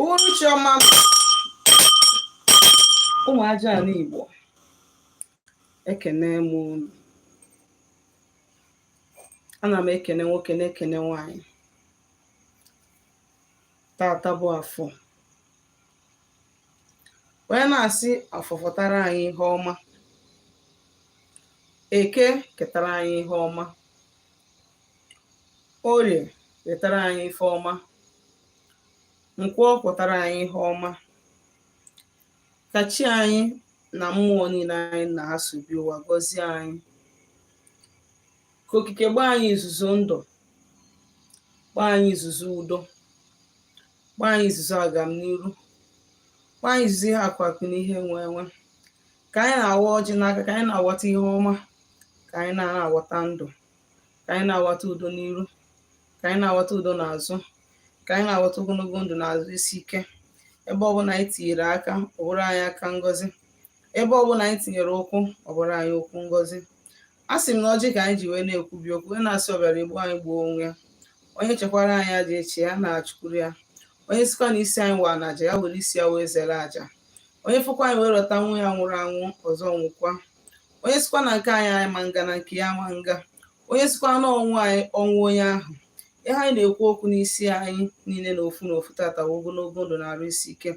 uhuruchi ọma ụmụ Ajana Igbo ekene m unu ana m ekene nwoke na-ekene nwanyị tata bụ afọ wee na-asị afọ fọtara anyị ihe ọma eke ketara anyị ihe ọma orie ketara anyị ife ọma nkwọ kwọtara anyị ihe ọma ka chi anyị na mmụọ niile anyị na ha so bịa ụwa gọzie anyị ka okike gbaa anyị izuzu ndụ gbaa anyị izuzu udo gbaa anyị izuzu agamniru gbaa anyị izuzu ihe akụ akụ na ihe enwe enwe ka anyị na-awa ọjị n'aka ka anyị na-awata ihe ọma ka anyị na-awata ndụ ka anyị na-awata udo n'iru ka anyị na-awata udo n'azụ ka anyị na-awata ogologo ndụ na arụ isi ike ebe ọbụla anyị tinyere aka ọ bụrụ anyị aka ngozi ebe ọbụla anyị tinyere ụkwụ ọ bụrụ anyị ụkwụ ngozi a sị m na ọjị ka anyị ji wee na-ekwubi okwu wee na-asị ọbịara egbu anyị gbuo onwe ya onye chekwara anyị aja echi ya na-achụkwuru ya onye sikwa na isi anyị waa na aja ya were isi ya wee zere aja onye fụkwa anyị wee rọta nwa ya nwụrụ anwụ ọzọ nwụkwa onye sikwa na nke anyị ama nga na nke ya ma nga onye sikwa na ọnwụ anyị ọnwụ onye ahụ ihe anyị na-ekwu okwu n'isi anyị niile na ofu na ofu tata wụ ogologo ndụ na arụ isi ike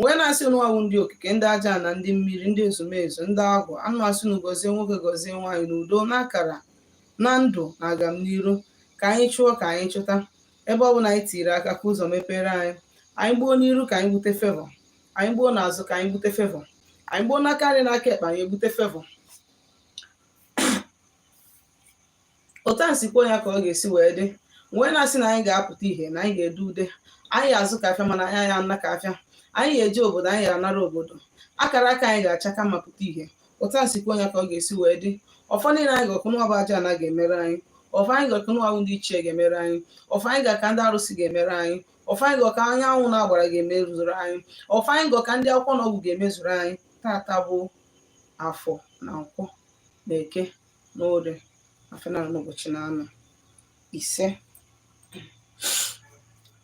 wee na-asị ụnụwa wụ ndị okike ndị Ajana ndị mmiri ndị ezumezu ndị agwụ anyị asị na gọzie nwoke gọzie nwaanyị na udo na akara na ndụ na agamniru ka anyị chụọ ka anyị chụta ebe ọ bụla anyị tiri aka ka ụzọ mepere anyị anyị gbuo n'iru ka anyị bute favour anyị gbuo n'azụ ka anyị bute favour anyị gbuo n'aka nri n'aka ekpe anyị ebute favour otu a si kwuo ya ka ọ ga-esi wee dị wee na-asị na anyị ga-apụta ihe na anyị ga-ede ude anyị azụ ka afịa mana anyị ana ka afịa anyị ga-eje obodo anyị ga-anara obodo akara aka anyị ga-achake ma pụta ihe otu a si kwuo ya ka ọ ga-esi wee dị ọfọ niile anyị gọku ụnụwa bụ Ajana ga-emere anyị ọfọ anyị gọku ụnụwa bụ ndị ichie ga-emere anyị ọfọ anyị gọku ndị arụsị ga-emere anyị ọfọ anyị gọku anyanwụ na agbara ga-emezuru anyị ọfọ anyị gọku ndị akwụkwọ na ọgwụ ga-emezuru anyị tata bụ afọ na nkwọ na eke na orie afọ na n'ụbọchị na anọ isee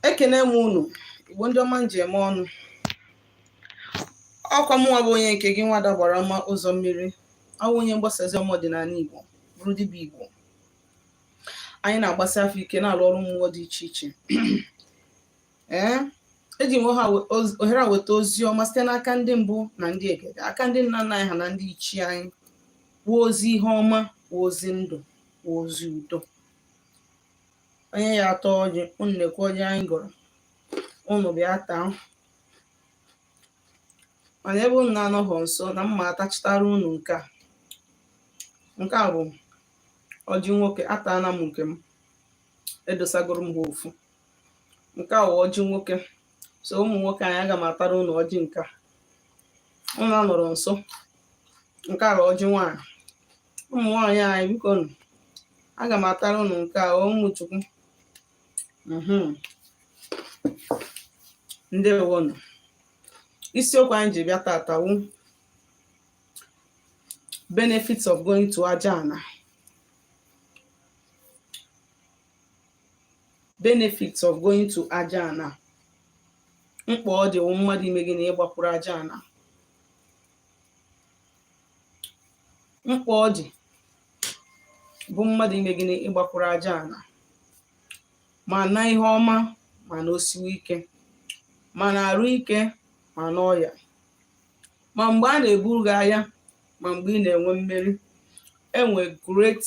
ekene m unu igbo ndị ọma m ji eme ọnụ ọkwa mụnwa bụ onye nke gị nwada agbara ọma ụzọ mmiri awụ onye mgbasa ozi ọma ọdịnala igbo bụrụ dibịa igbo anyị na-agbasi afa ike na-alụ ọrụ mmụọ dị iche iche ee eji m ohere a weta ozi ọma site n'aka ndị mbụ na ndị egede aka ndị nna nna anyị ha na ndị ichie anyị wụ ozi ihe ọma wụ ozi ndụ wụ ozi udo onye ya atọ ọjị unu nekwa ọjị anyị gọrọ unu bịa taa mana ebe unu na-anọghọ nso na mma atachitara unu nke a nke a bụ ọjị nwoke ataana m nke m edosagoro m ha ofu nke a wụ ọjị nwoke so ụmụ nwoke anyị aga m atara unu ọjị nke a unu anọrọ nso nke a wụ ọjị nwaanyị ụmụ nwaanyị anyị biko nụ aga m atara unu nke a ụmụ chukwu mhm. ndewonụ isiokwu anyị ji bịa tata wụ benefits of going to aja ana benefits of going to aja ana mkpa ọ dị wụ mmadụ ime gịnị ịgbakwuru aja ana mkpa ọ dị bụ mmadụ ime gịnị ịgbakwuru aja ana ma na ihe ọma ma na o siwe ike ma na arụ ike ma na ọya ma mgbe a na-eburu gị aya ma mgbe ị na-enwe mmeri enwe great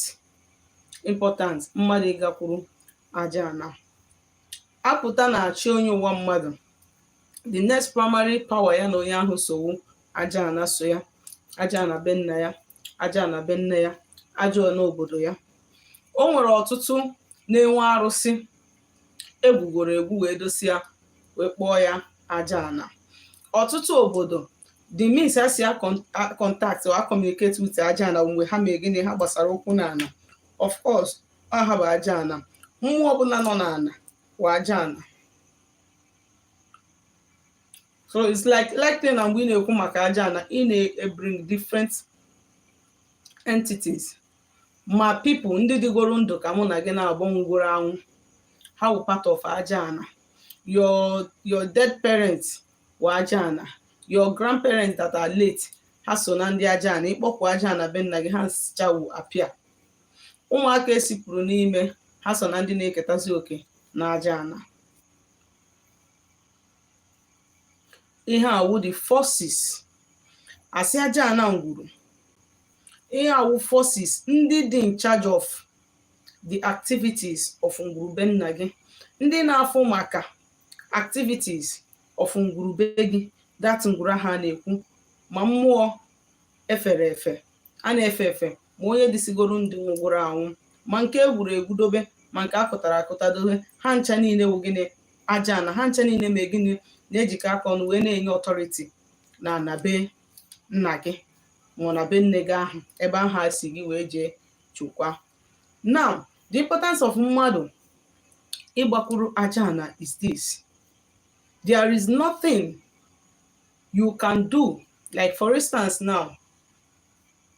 important mmadụ ịgakwuru aja ana a pụta na chi onye ụwa mmadụ the next primary power ya na onye ahụ so wụ aja ana so ya aja ana be nna ya aja ana be nne ya aja ana obodo ya o nwere ọtụtụ na-enwe arụsị egwugoro egwu wee dosia wee kpọọ ya aja ana ọtụtụ obodo the means ha si contact or communicate with aja ana mgbe ha mee gịnị ha gbasara ụkwụ na ana of course ọ ha bụ aja ana mmụọ ọbụla nọ na ana wụ aja ana so it's like like na mgbe ị na-ekwu maka aja ana ị na-ebring different entities ma people ndị dịgoro ndụ ka mụ na gị na mbụ nwụgoro anwụ ha wụ part of aja ana your your dead parents wụ aja ana your grandparents that are late ha so na ndị aja ana ị kpọpụ aja ana be nna gị ha nsichawu apịa ụmụaka esipụrụ n'ime ha so na ndị na-eketazi oke na aja ana ihe a wụ the forces a sị aja ana ngwuru ihe a wụ forces ndị dị in charge of the activities of ngwuru be nna gị ndị na-afụ maka activities of ngwuru be gị that ngwuru ha na-ekwu ma mmụọ e fere efe a na-efe efe ma onye dịsigoro ndị nwụgoro anwụ ma nke e gwuru egwu dobe ma nke a kụtara akụta dobe ha ncha niile wụ gịnị ajana ha ncha niile me gịnị na-ejikọ aka ọnụ wee na-enye authority na ana be nna gị ma ọ ana be nne gị ahụ ebe ahụ a si gị wee jee chukwa now the importance of mmadụ ịgbakwuru ajana is this there is nothing you can do like for instance now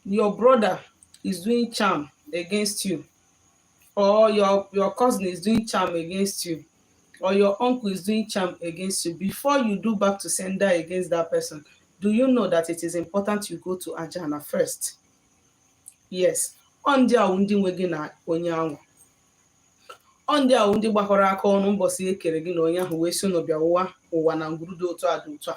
your brother is doing charm against you or your your cousin is doing charm against you or your uncle is doing charm against you before you do back to sender against that person do you know that it is important you go to ajana first yes ọ ndị ahụ ndị nwe gị na onye ahụ ọ ndị ahụ ndị gbakọrọ aka ọnụ mbọsị e kere gị na onye ahụ wee sị ụnụ bịa ụwa ụwa na ngwuru dị otu a dị otu a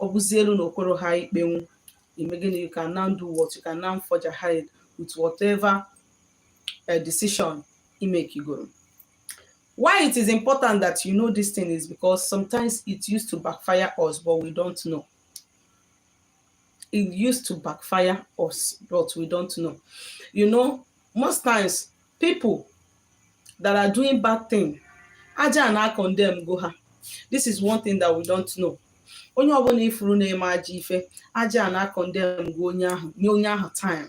ọ bụzi elu na okoro ha ikpenwu ime gịnị you can now do what you can now forge ahead with whatever uh, decision imekigoro why it is important that you know this thing is because sometimes it used to backfire us but we don't know it used to backfire us, but we don't know. You know, most times people that are doing bad thing ajana condemn go ha this is one thing that we don't know onye ọbụna ị fụrụ na-eme ajọ ife ajana condemn go onye ahụ nye onye ahụ time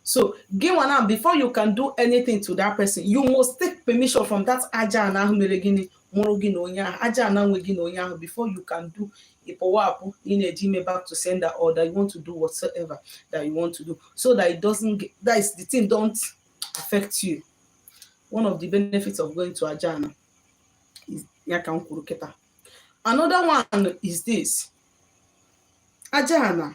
so gị nwa now before you can do anything to that person you must take permission from that ajana ahụ mere gịnị mụrụ gị na onye ahụ ajana nwe gị na onye ahụ before you can do ịpụwa apụ ị na-eji eme back to sender or that you want to do whatsoever that you want to do so that it doesn't get, that is the thing don't affect you one of the benefits of going to ajana is ya ka m kwuru kịta another one is this ajana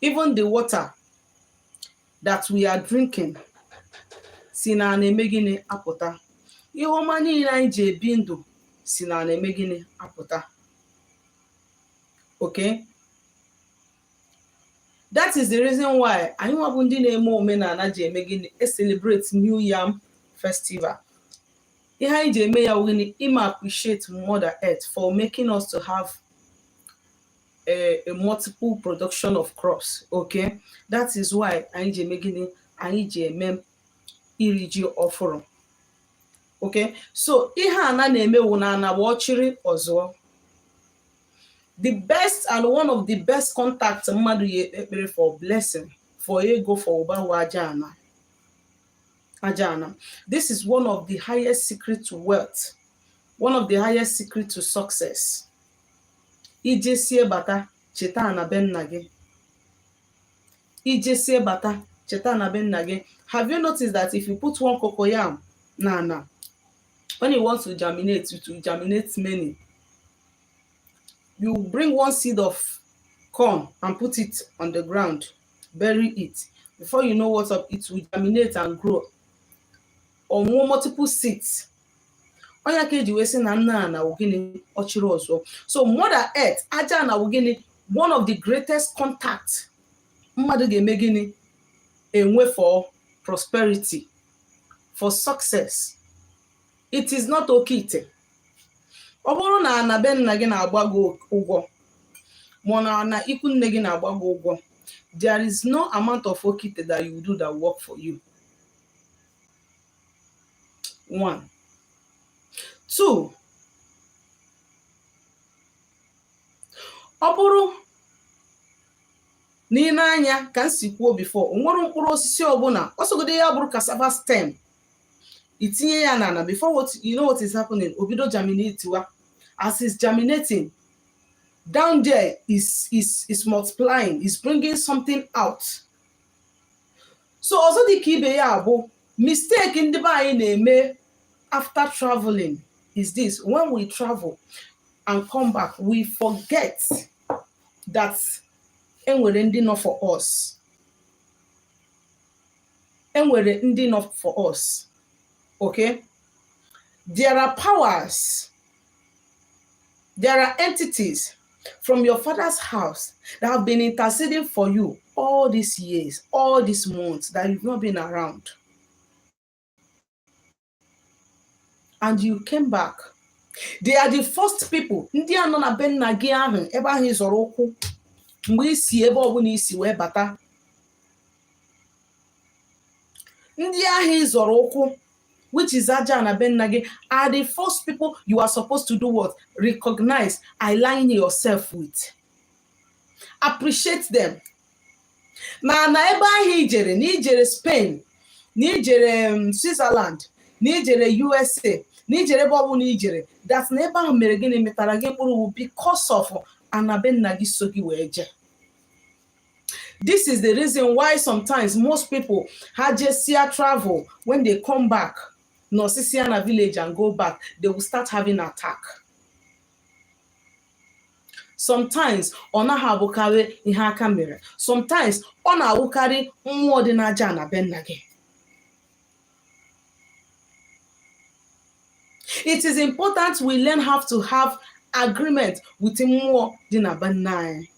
even the water that we are drinking si na ana eme gịnị apụta ihe ọma niile anyị ji ebi ndụ si na ana eme gịnị apụta okay that is the reason why anyị nwa bụ ndị na-eme omenana ji eme gịnị e celebrate new yam festival ihe anyị ji eme ya wụ gịnị ịma appreciate mother earth for making us to have a, a multiple production of crops okay that is why anyị ji eme gịnị anyị ji eme iri ji ọfụrụ okay so ihe ana na-eme wụ na ana wụ ọchịrị ọzụọ the best and one of the best contact mmadụ ya-ekpe ekpere for blessing for ego for ụba wụ aja ana aja ana this is one of the highest secret to wealth one of the highest secret to success ijesie bata cheta na be nna gị ijesie bata cheta na be nna gị have you noticed that if you put one cocoyam na ana when you want to germinate it will germinate many you bring one seed of corn and put it on the ground bury it before you know what's up it will germinate and grow or more multiple seeds ọ nya ka eji wee sị na nne ana wụ gịnị ọchịrị ọzụọ so mother earth aja ana wụ gịnị one of the greatest contact mmadụ ga-eme gịnị enwe for prosperity for success it is not oke ite ọ bụrụ na ana be nna gị na-agba gị ụgwọ ma na ana ikwu nne gị na-agba gị ụgwọ there is no amount of okite that you do that work for you one two ọ bụrụ na ị nee anya ka m si kwuo before o nwere mkpụrụ osisi ọbụla ọ sọgodo ya bụrụ cassava stem i tinye ya n'ana before you know what is happening o bido germinatewa as is germinating down there is is is multiplying is bringing something out so ọzọ dị ka ibe ya bụ mistake ndị be anyị na-eme after traveling is this when we travel and come back we forget that enwere ndị nọ for us enwere ndị nọ for us okay there are powers There are entities from your father's house that have been interceding for you all these years, all these months that you've not been around. And you came back. They are the first people. Ndị a nọ na be nna gị ahụ ebe ahụ ị zọrọ ụkwụ mgbe i si ebe ọbụla i si wee bata ndị ahụ ị zọrọ ụkwụ which is aja ana be nna gị are the first people you are supposed to do what recognize align yourself with appreciate them na na ebe ahụ i jere na i jere Spain na i jere um, Switzerland na i jere USA na i jere ebe ọbụla i jere that na ebe ahụ mere gịnị mịtara gị mkpụrụ because of ana be nna gị so gị wee jee this is the reason why sometimes most people ha jesịa travel when they come back nọsịsịa na village and go back they will start having attack sometimes ọ naghị abụkarị ihe aka mere sometimes ọ na-awụkarị mmụọ dị n'aja ana be nna gị it is important we learn how to have agreement with mmụọ dị na be nna anyị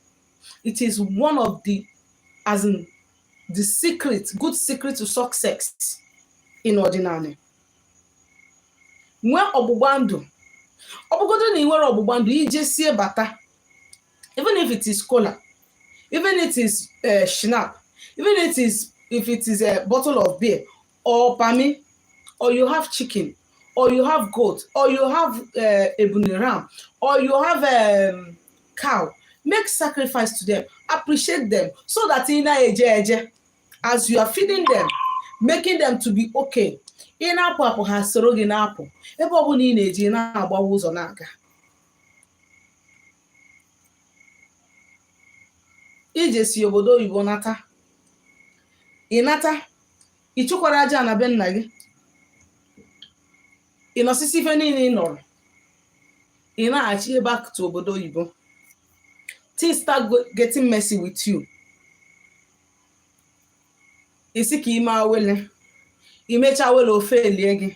it is one of the as in the secret good secret to success in ọdịnala nwee ọgbụgba ndụ ọ bụgodo na i nwerọ ọgbụgba ndụ i jesie bata even if it is kola even if it is uh, schnapp even if it is if it is a bottle of beer or pami or you have chicken or you have goat or you have uh, ebunu ram or you have um, cow make sacrifice to them appreciate them so that ị na-eje eje as you are feeding them making them to be okay ị na-apụ apụ ha soro gị na-apụ ebe ọ bụla ị na-eje ị na-agbawa ụzọ na-aga i jesịa obodo oyibo nata ị nata ị chụkwara aja ana be nna gị ị nọsịsịa ife niile ị nọrọ ị nachie back to obodo oyibo things start go- getting messy with you ị sị ka i mee awele i mechaa awele ofe elie gị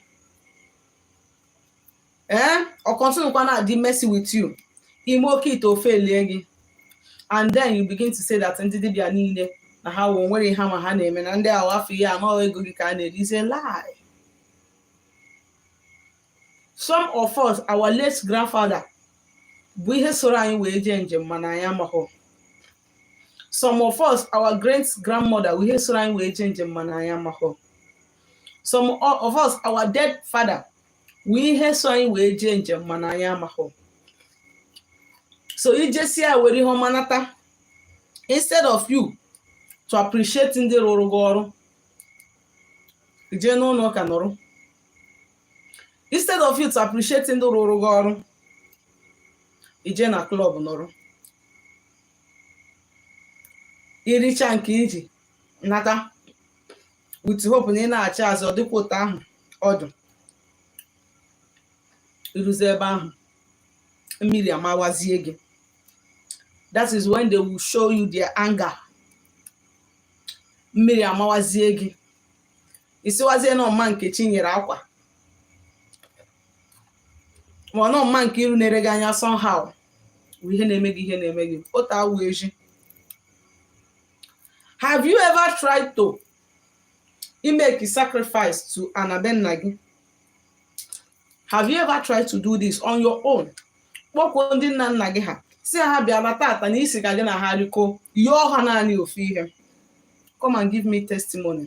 ee ọ continue kwa na-adị messy with you i mee oke ite ofe elie gị and then you begin to say that ndị dibịa niile na ha wụ o nwere ihe ha ma ha na-eme na ndị ahụ afọ ihe na ọ ego gị ka a na-eri is a lie some of us our late grandfather bụ ihe soro anyị wee jee njem mana anyị amaghọ some of us our great grandmother bụ ihe soro anyị wee jee njem mana anyị amaghọ some of us our dead father wụ ihe so anyị wee jee njem mana anyị amaghọ so i jesịa were ihe ọma nata instead of you to appreciate ndị rụrụ gị ọrụ i jee n'ụlọ ụka nọrọ instead of you to appreciate ndị rụrụ gị ọrụ i jee na club nọrọ i richaa nke i ji nata with hope na ị nachie azụ ọ dịkwa otu ahụ ọdọ i ruzie ebe ahụ mmiri amawazie gị that is when they will show you their anger mmiri amawazie gị ị sịwazie na ọ mma Nkechi i nyere akwa ma ọ na ọ mma Nkiru na-ele gị anya somehow bụ ihe na-eme gị ihe na-eme gị otu awụ eji have you ever tried to make a sacrifice to ana be nna gị have you ever tried to do this on your own kpọkwuo ndị nna nna gị ha sị ha bịara tata na ị sị ka gị na ha rikọọ yọọ ha naanị ofu ihe come and give me testimony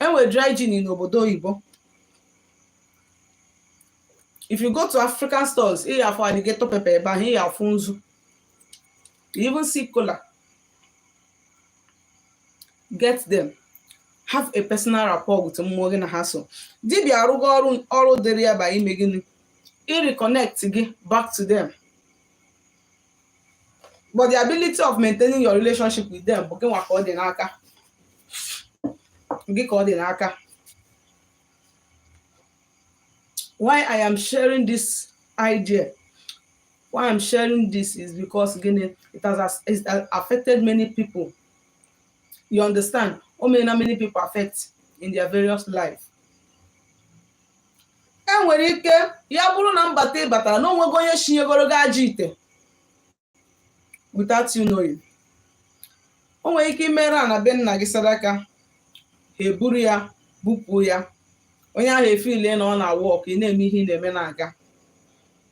e nwe dry gin n'obodo oyibo if you go to african stores ị ga-afụ alligator pepper ebe ahụ ị ga-afụ nzu you even see kola get them have a personal rapport with mmụọ gị na ha so dibịa arụgo ọrụ ọrụ dịrị ya bụ ime gịnị ịreconnect gị back to them but the ability of maintaining your relationship with them bụ gị nwa ka ọ dị n'aka gị ka ọ dị n'aka why i am sharing this idea why i'm sharing this is because gịnị it has as- it has affected many people you understand o meela many people affect in their various life e nwere ike ya bụrụ na mbata ị batara na onwego onye shinyegoro gị ajọ ite without you knowing o nwere ike i mere ana be nna gị sadaka ha eburu ya bupụ ya onye ahụ efeel na ọ na-awork ị na-eme ihe ị na-eme na-aga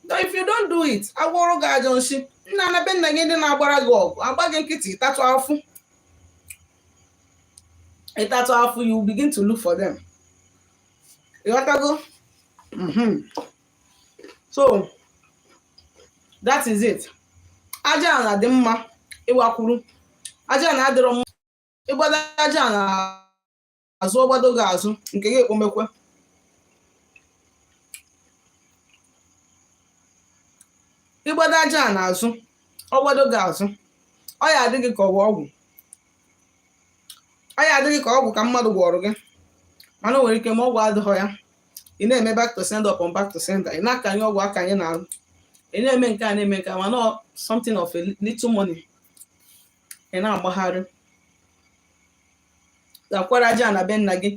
Though if you don't do it agwọrọ gị ajọ nshi na ana be nna gị ndị na-agbara gị ọgụ agba gị nkịtị ị tatụ afụ ị tatụ afụ you begin to look for them ịghọtago mhm. so that is it aja ana dị mma ịgbakwuru aja ana adịrọ mma ị gbado aja ana azụ ọ gbado gị azụ nke gị ekpomekwe ị gbado aja ana azụ ọ gbado gị azụ ọ ya-adị gị ka ọ wụ ọgwụ ọ ya-adị gị ka ọgwụ ka mmadụ gwọrọ gị mana o nwere ike ma ọgwụ adịghọ ya ị na-eme back to sender upon back to sender ị na-akanye ọgwụ akanye n'arụ ị na-eme nke a na-eme nke a mana ọ something of a little money ị na-agbagharị gakwuru aja ana be nna gị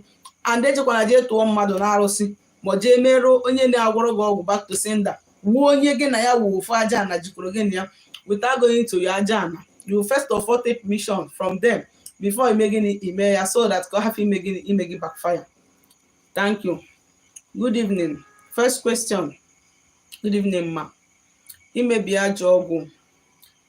and ejekwana jee tụọ mmadụ n'arụsị ma ọ jee merụ onye na-agwọrọ gị ọgwụ back to sender wụ onye gị na ya wụ ofu aja ana jikọrọ gị na ya without going to your aja ana you first of all take permission from them before ime gịnị ime ya so that ka ọ hapụ ime gị backfire thank you good evening first question good evening ma imebi ajọ ọgwụ